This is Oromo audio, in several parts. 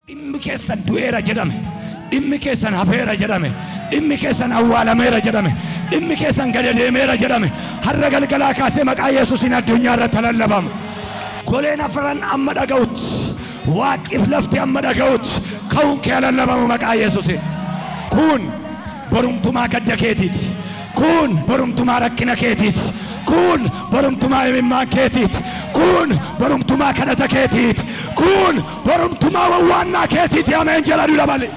Dhimmi keessan du'eera jedhame, dhimmi keessan hafeera jedhame, dhimmi keessan awwaalameera jedhame, dhimmi keessan gada deemeera jedhame, har'a galgalaa kaasee maqaa Yesuusiin addunyaa irratti haa lallabama. Goleen afran amma dhaga'utti, waaqqiif lafti amma dhaga'utti ka'uun kee haa lallabamu maqaa Yesuusiin. Kun borumtumaa gadda keetiiti. Kun borumtumaa rakkina keetiiti. Kun borumtumaa imimmaan keetiiti. Kun borumtumaa kadhata keetiiti. Kun Borumtumaa wawwaannaa keetiiti ameen jedha dura malee.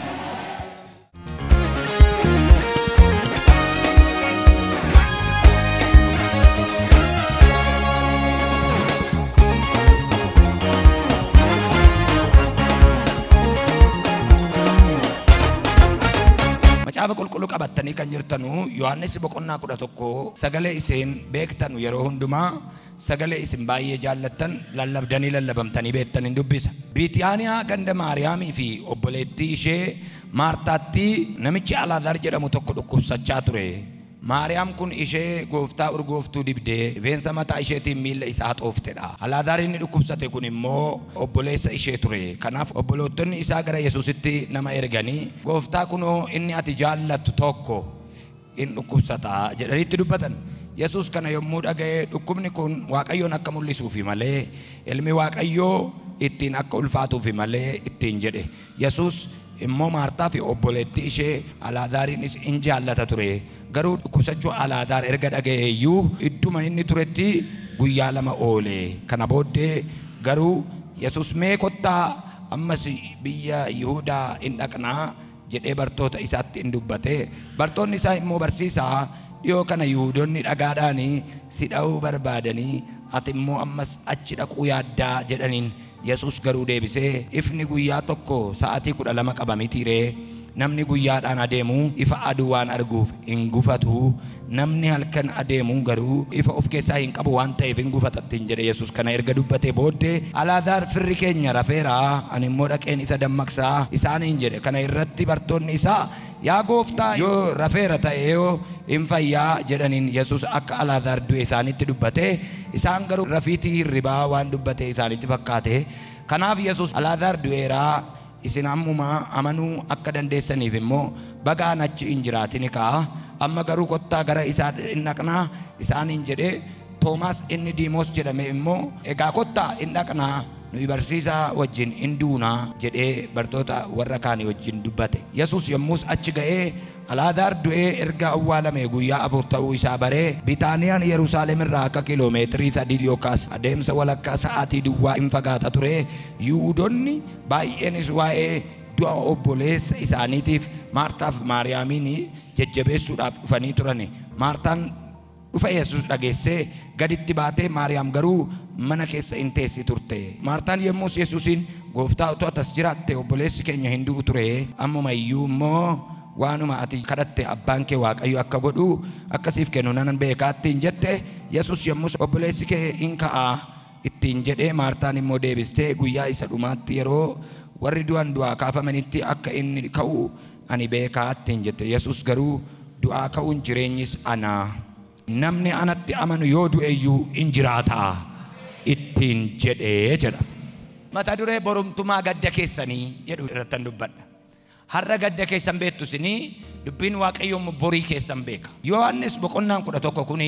Macaafa qulqulluu qabattanii kan jirtanu Yohaannis boqonnaa kudha tokko sagalee iseen beektanu yeroo hundumaa Sagalee isin baay'ee jaallattan lallabdanii lallabamtanii beektan in dubbisa. Biitiyaaniyaa ganda Maariyaamii fi obboleettii ishee Maartaatti namichi Alaazar jedhamu tokko dhukkubsachaa ture. Maariyaam kun ishee Gooftaa urgooftuu dibdee rifeensa mataa isheetiin miilla isaa haxoofte dha. Alaazar inni dhukkubsate kun immoo obboleessa ishee ture. Kanaaf obboloottonni isaa gara Yesuusitti nama erganii, Gooftaa kunoo inni ati jaallattu tokko, in dhukkubsata jedhanii itti dubbatan. Yesuus kana yommuu dhaga'e, dhukkubni kun Waaqayyoon akka mul'isuufi malee, Ilmi Waaqayyoo ittiin akka ulfaatuufi malee ittiin jedhe. Yesuus immoo Maartaafi obboleettii ishee Alaazaariinis in jaallata ture, garuu dhukkubsachuu Alaazaar erga dhaga'ee iyyuu, idduma inni turetti guyyaa lama oole. Kana booddee garuu Yesuus, Mee kottaa, ammas biyya Yihudaa in dhaqnaa! jedhee bartoota isaatti in dubbate. Bartoonni isaa immoo, Barsiisaa, dhiyoo kana Yihuudonni dhagaadhaan si dha'uu barbaadanii, ati immoo ammas achi dhaquu yaaddaa? jedhaniin. Yesuus garuu deebisee, Ifni guyyaa tokko sa'aatii kudha lama qaba mitii ree? Namni guyyaadhaan adeemu ifa aduu waan arguuf hin gufatu. Namni halkan adeemu garuu ifa of keessaa hin qabu waan ta'eef in gufata ittiin jedhe. Yesus kana erga dubbatee booddee, Alaazaar firri keenya rafeera, ani immoo dhaqeen isa dammaqsa isaaniin jedhe. Kana irratti bartoonni isaa, Yaa Gooftaa, yoo rafeera ta'eoo in fayya jedhaniin. Yesus akka Alaazaar du'e isaanitti dubbate, isaan garuu rafiitii hirribaa waan dubbate isaanitti fakkaate. Kanaaf Yesus, Alaazaar du'eera. Isin ammuma amanuu akka dandeessaniif immoo baga an achi hin jiraatini ka'a, amma garuu kottaa gara isaa in dhaqnaa isaaniin jedhe, Toomaas inni Diimoos jedhame immoo, Egaa kottaa in dhaqnaa, nuyi barsiisaa wajjin in duuna jedhee bartoota warra kaanii wajjin dubbate. Yesuus yommus achi ga'ee Alaazaar du'ee erga awwaalamee guyyaa afur ta'uu isaa baree, Bitaaniyaan Yerusaalem irraa akka kiiloo meetirii sadii yookaas adeemsa walakkaa sa'aatii duwwaa in fagaata ture, Yihuudonni baay'eenis waa'ee du'a obboleessa isaaniitiif Maartaa fi Maariyaamiin jajjabeessuudhaaf dhufanii turan. Maartaan. Dhufa Yesus dhageessee, gaditti baatee, Maariyaam garuu mana keessa in teessi turte. Maartaan yommus Yesusiin, Gooftaa, utuu ati as jiraattee obboleessi keenya hin du'u ture, ammuma iyyuu immoo waanuma ati kadhatte Abbaan kee Waaqayyo akka godhu, akka siif kennu nan beeka ittiin jette. Yesus yommus, Obboleessi kee in ka'a ittiin jedhe. Maartaan immoo deebistee, Guyyaa isa dhumaatti yeroo warri du'an du'aa kaafamanitti akka inni ka'u Ani beekaa ittiin jette. Yesuus garuu, Du'aa ka'uun jireenyis ana. Namni anatti amanu yoo du'e iyyuu in jiraata ittiin jedhe jedha. Mata duree Borumtumaa Gadda Keessanii jedhu irrattan dubbadha. Har'a gadda keessan beektu isin, Dubbiin Waaqayyoo immoo borii keessan beeka. Yohaannis boqonnaan 11 kun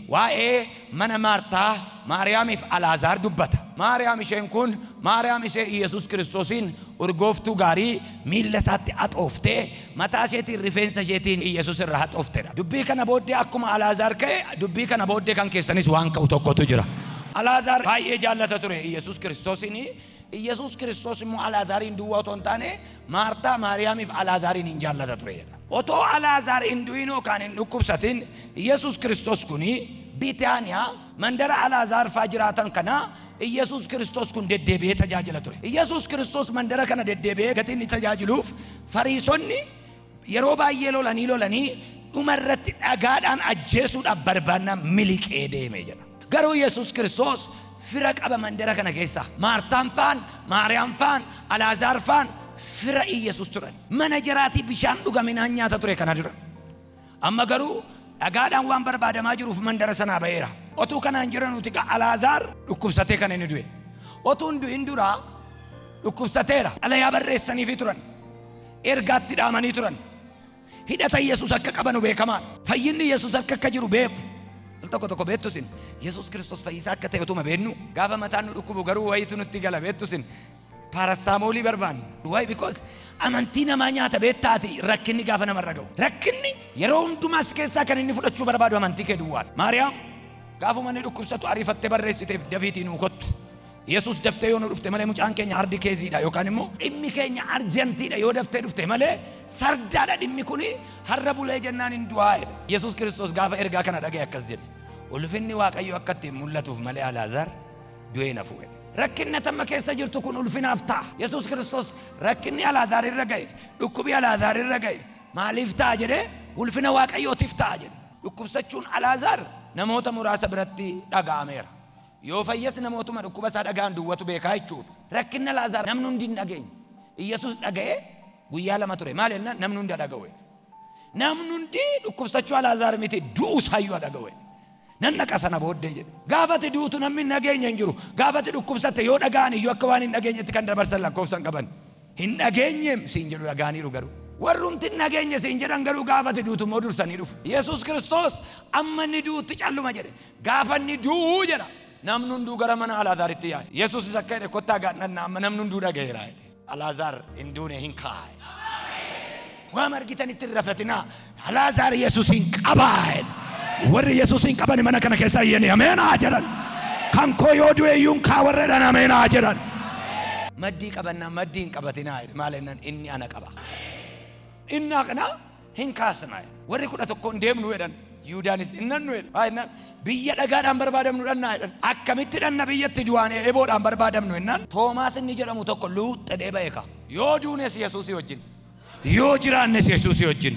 waa'ee Mana Maartaa, Maariyaamiif Alaazaar dubbata. Maariyaam isheen kun Maariyaam ishee Iyyasuus Kiristoosiin urgooftuu gaarii miilla isaatti haxooftee mataa isheetiin rifeensa isheetiin Iyyasuus irra haxoofte dha. Dubbii kana booddee akkuma Alaazaar ka'e dubbii kana booddee kan keessanis waan ka'u tokkotu jira. Alaazaar baay'ee jaallata ture Iyyasuus Kiristoosiin. Iyyasuus Kiristoos immoo Alaazaariin duwwaa otoo hin taane, Maartaa, Maariyaamii fi Alaazaariin in jaallata ture jedha. Otoo Alaazaar hin du'in yookaan hin dhukkubsatin, Iyyasuus Kiristoos kun Bitaaniyaa, mandara Alaazaar faa jiraatan kana, Iyyasuus Kiristoos kun deddeebi'ee tajaajila ture. Iyyasuus Kiristoos mandara kana deddeebi'ee gatii inni tajaajiluuf Fariisonni, Yeroo baay'ee lolanii lolanii dhuma irratti dhagaadhaan ajjeesuudhaaf barbaannaan miliqee deeme jedha. Garuu Yesus Kiristoos fira qaba mandara kana keessaa. Maartaan faan, Maariyaam faan, Alaazaar faan fira Iyyasuus turan. Mana jaraatii bishaan dhugaminaan nyaata ture kana dura. Amma garuu dhagaadhaan waan barbaadamaa jiruuf mandara sanaa ba'eera. Otuu kanaan jiranuuti gaa Alaazaar dhukkubsatee kan inni du'e. Otuu hin du'in duraa dhukkubsateera. Xalayaa barreessaniifii turan. Ergaa itti dhaamanii turan. Hidhata Yesus akka qabanu beekamaa dha. Fayyinni Yesus harka akka jiru beeku. Al tokko tokko beektu isin, Yesus Kristos fayyisaa akka ta'e utuma beeknuu, gaafa mataan nu dhukkubu garuu wayiitu nutti gala beektu isin, paarastaamoolii barbaanna. Why? Because amantii namaa nyaata beektaatii rakkinni gaafa namarra ga'u. Rakkinni yeroo hundumaa si keessaa kan inni fudhachuu barbaadu amantii kee duwwaa dha. Maariyaam gaafuma inni dhukkubsatu ariifattee barreessiteef, Dafiitii nuu kottu! Yesuus daftee yoo nu dhufte malee mucaan keenya hardi keeziidha yookaan immoo dhimmi keenya arjantiidha yoo daftee dhufte malee sardaadha dhimmi kun har'a bulee jennaan hin du'aa jedhe. Yesuus Kiristoos gaafa ergaa kana dhaga'e akkas jedhe. Ulfinni Waaqayyo akka ittiin mul'atuuf malee Alaazaar du'ee hin hafu jedhe. Rakkinni tamma keessa jirtu kun ulfinaaf ta'a. Yesuus Kiristoos rakkinni Alaazaar irra ga'e, dhukkubi Alaazaar irra ga'e maaliif ta'a jedhee ulfina Waaqayyootiif ta'a jedhe. Dhukkubsachuun Alaazaar namoota muraasa biratti dhaga'ameera. Yoo fayyes namootuma dhukkuba isaa dhaga'an duwwatu beekaa jechuu dha. Rakkinna Laazaar namni hundi hin dhageenye. Iyyasuus dhaga'ee guyyaa lama ture. Maali jennaan namni hundi ha dhaga'u jedhe. Namni hundi dhukkubsachuu Alaazaar miti du'uu isaa iyyuu ha dhaga'u jedhe. Nan dhaqa sana booddee jedhe. Gaafa ati duutu namni hin dhageenye hin jiru. Gaafa ati dhukkubsatte yoo dhaga'an iyyuu akka waan hin dhageenyetti kan dabarsan lakkoofsa hin qaban. Hin dhageenyeem siin jedhu dhaga'aniiru garuu. Warrumti hin dhageenye siin jedhan garuu gaafa ati duutu immoo dursanii dhufu. Yesuus Kiristoos amma inni du'utti calluma jedhe. Gaafa inni du'u jedha namni hunduu gara mana Alaazaaritti yaa'e. Yesuusis akka jedhe kottaa gaadhannaa amma namni hunduu dhaga'eera jedhe. Alaazaar hin duune hin kaa'e. Waama argitanitti hin rafatinaa. Alaazaar yesusin qabaa jedhe. Warri yesusin qabani mana kana kessa iyyani ameen haa jedhan. Kan koo yoo du'e iyyuu hin kaa warra jedhan ameen haa jedhan. Maddii qabannaa maddii hin qabatinaa jedhe maal jennaan inni ana qaba. Inni haqnaa hin kaasna jedhe. Warri kudha tokko hin deemnu jedhan. Yihuudaanis hin dhannu jedhe. Maal jennaan biyya dhagaadhaan barbaadamnu dhannaa jedhan. Akkamitti dhanna biyyatti du'aan eeboodhaan barbaadamnu jennaan Toomaas inni jedhamu tokko luuxxedhee ba'e kaa. Yoo duunes yesusi wajjin Yoo jiraannes Yesuusii wajjin.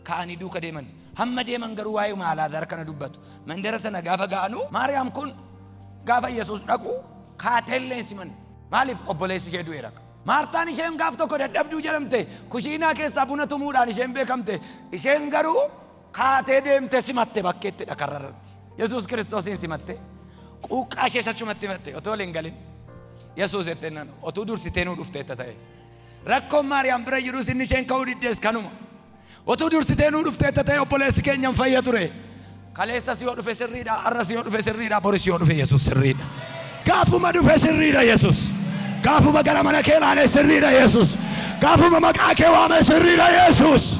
ka'anii duuka deeman. Hamma deeman garuu waa'euma Alaazaar kana dubbatu. Mandara sana gaafa ga'anu Maariyaam kun gaafa Yesuus dhaqu kaateellee hin simanne. Maaliif? Obboleessi ishee du'eera. Maartaan isheen gaaf tokko dadhabduu jedhamte kushiinaa keessaa buna tumuudhaan isheen beekamte. Isheen garuu kaatee deemte simatte bakkeettidha karra irratti. Yesuus Kiristoosiin simatte quuqqaa ishees achumatti himatte otoo wal hin galin Yesuus jettee naan otuu dursitee nuu dhufteetta ta'e. Rakkoon Maariyaam bira jirus inni isheen ka'uu diddes kanuma. Otuu dursitee nuu dhufteetta ta'e obboleessi keenya hin fayya ture. Kaleessas yoo dhufe sirriidha, har'as yoo dhufe sirriidha, boris yoo dhufe Yesuus sirriidha. Gaafuma dhufe sirriidha Yesuus. Gaafuma gara mana kee ilaale sirriidha Yesuus. Gaafuma maqaa kee waame sirriidha Yesuus.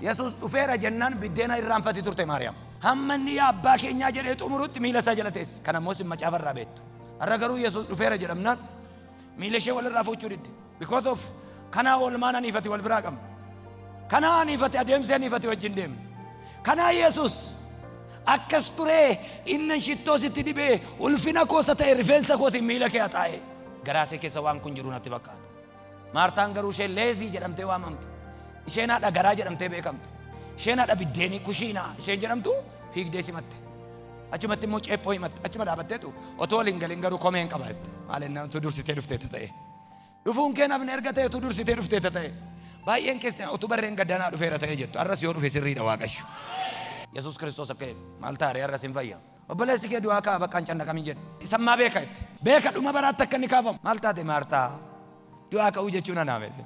Yesuus dhufeera jennaan biddeena irraanfati turte Maariyaam. Hamma inni yaa abbaa keenyaa jedhee xumurutti miila isaa jala teesse. Kana immoo isin macaafa irraa beektu. Har'a garuu Yesuus dhufeera jedhamnaan Miila ishee walirraa fuuchuu didde. Because of kanaa oolmaan anii fi ati wal biraa qabna. Kanaa anii fi ati adeemsi anii fi ati wajjin deemna. Kanaa Yesus akkas turee innan shittoo sitti dibee ulfina koosa ta'e rifeensa kootiin miila kee haxaa'e. Garaa ishee keessa waan kun jiru natti fakkaata. Maartaan garuu ishee leezii jedhamtee waamamtu. Isheen haadha garaa jedhamtee beekamtu. Isheen haadha biddeenii kushiinaa isheen jedhamtu fiigdee simatte. Achumatti immoo ceephoo himatte achuma dhaabatteetu otoo waliin galin garuu komeen qaba jette. Maal ennaa utuu dursitee dhuftee ta'e. Dhufuun kee nafni erga ta'e utuu dursitee dhuftee ta'e. Baay'een keessan utuu barreen gaddanaa dhufeera ta'e jettu. Har'as yoo dhufe sirriidha Waaqayyo. Yesuus Kiristoos akka jedhe maal taare har'as hin fayya. Obboleessi kee du'aa ka'a bakka hin cannaqamin jedhe. Isa ammaa beeka jette. Beeka dhuma baraatti akka inni kaafamu. Maal taate Maartaa? Du'aa ka'uu jechuun anaa miti.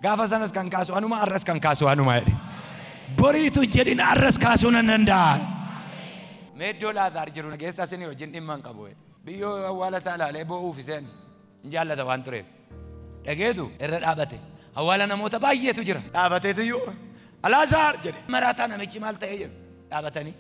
Gaafa sanas kan kaasu anuma, arras kan kaasu anuma jedhe. Boriitu hin jedhin arras kaasuu nan danda'a. Mee iddoo Laazaar jiru na geessaa isinii wajjin dhimma hin qabu jedhe. Biyyoo awwaala isaa ilaalee boo'uuf iseen hin jaallata waan tureef. Dhageetu irra dhaabate. Awwaala namoota baay'eetu jira. Dhaabateetu iyyuu Alaazaar jedhe. Maraataa namichi maal ta'ee jedhu dhaabatanii.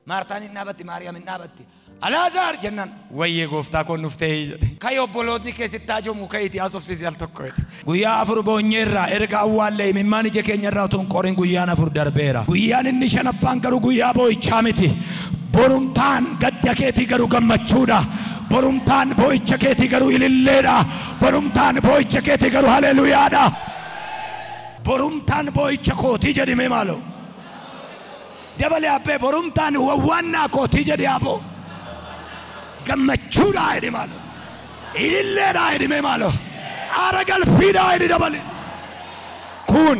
Maartaan hin dhaabatti, Maariyaam hin dhaabatti. Alaazaar jennaan, Wayyee gooftaa koo nuuf ta'ee jedhe. Ka'i obbolootni kee sitti haajomuu ka'iitii haasofsiisi al tokko jedhe. Guyyaa afur boonyeerra, erga awwaallee imimmaan ija keenya irraa utuu hin qorin guyyaan afur darbeera. Guyyaan inni shanaffaan garuu guyyaa boo'ichaa miti. Borumtaan gadda keetii garuu gammachuudha. Borumtaan boo'icha keetii garuu ililleedha. Borumtaan boo'icha keetii garuu haleeluyaadha. Borumtaan boo'icha kootii jedhimee maaloo. Dabali Abbee borumtaan wawwaannaa kootii jedhi aboo Gammachuudhaa jedhi maaloo Ililleedhaa jedhi mee maaloo Aara galfiidhaa jedhi Dabali Kun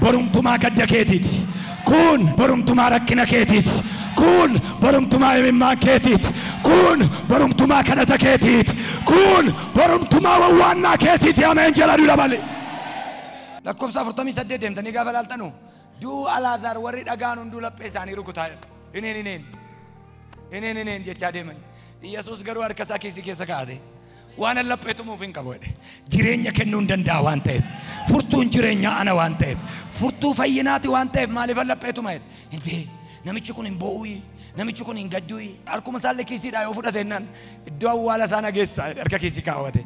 borumtumaa gadda keetiiti Kun borumtumaa rakkina keetiiti Kun borumtumaa imimmaan keetiiti Kun borumtumaa kadhata keetiiti Kun borumtumaa wawwaannaa keetiiti Ameen jedha du Dabali. Lakkofsa 48 deemtanii gaafa ilaaltanu Du'uu Alaazaar warri dhaga'an hunduu laphee isaanii rukutaa jedha. Ineen ineen. Ineen ineen jechaa deeman. Yesuus garuu harka isaa kiisii keessa kaa'ate. Waan an laphee tumuuf hin qabu jedhe. Jireenya kennuu hin danda'a waan ta'eef. Furtuun jireenyaa ana waan ta'eef. Furtuu fayyinaati waan ta'eef maaliif an laphee tuma jedhe. Intee namichi kun hin boo'uyi. Namichi kun hin gadduyi. Harkuma isaallee kiisiidhaa yoo fudhate jennaan iddoo awwaala isaa na geessaa jedhe harka kiisii kaawwate.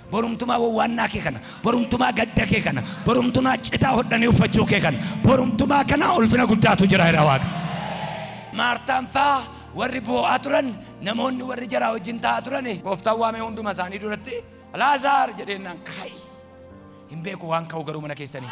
Borumtumaa wowwaannaa kee kana, borumtumaa gadda kee kana, borumtunaa citaa hodhanii uffachuu kee kana, borumtumaa kana ulfina guddaatu jira jedha Waaqa. Maartaan faa warri boo'aa turan, namoonni warri jaraa wajjin taa'aa turan, Gooftaan waamee hunduma isaanii duratti, Alaazaar! jedheennaan, Kaa'i! Hin beeku waan ka'u garuu mana keessanii.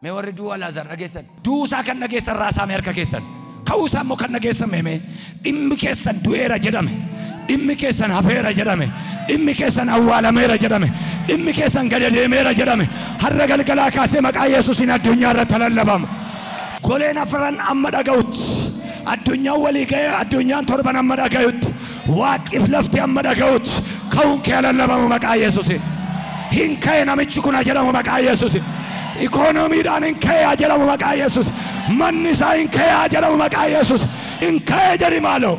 Mee warri du'uu Alaazaar dhageessan. Du'uu isaa kan dhageessan raasaa mee harka keessan. Ka'uu isaa immoo kan dhageessan mee mee. Dhimmi keessan du'eera jedhame. Dhimmi keessan hafeera jedhame. Dhimmi keessan awwaalameera jedhame. Dhimmi keessan gad deemeera jedhame. Har'a galgalaa kaasee maqaa Yesuusiin addunyaa irratti lallabama. Goleen afran amma dhaga'utti. Addunyaan walii ga'ee addunyaan torban amma dhaga'utti. Waaqif lafti amma dhaga'utti ka'uun kee lallabamu maqaa Yesuusiin. Hin ka'e namichi kun haa jedhamu maqaa Yesuusiin. Ikoonomiidhaan hin ka'e haa jedhamu maqaa Yesuus. Manni isaa hin ka'e haa jedhamu maqaa Yesuus. Hin ka'e jedhi maaloo.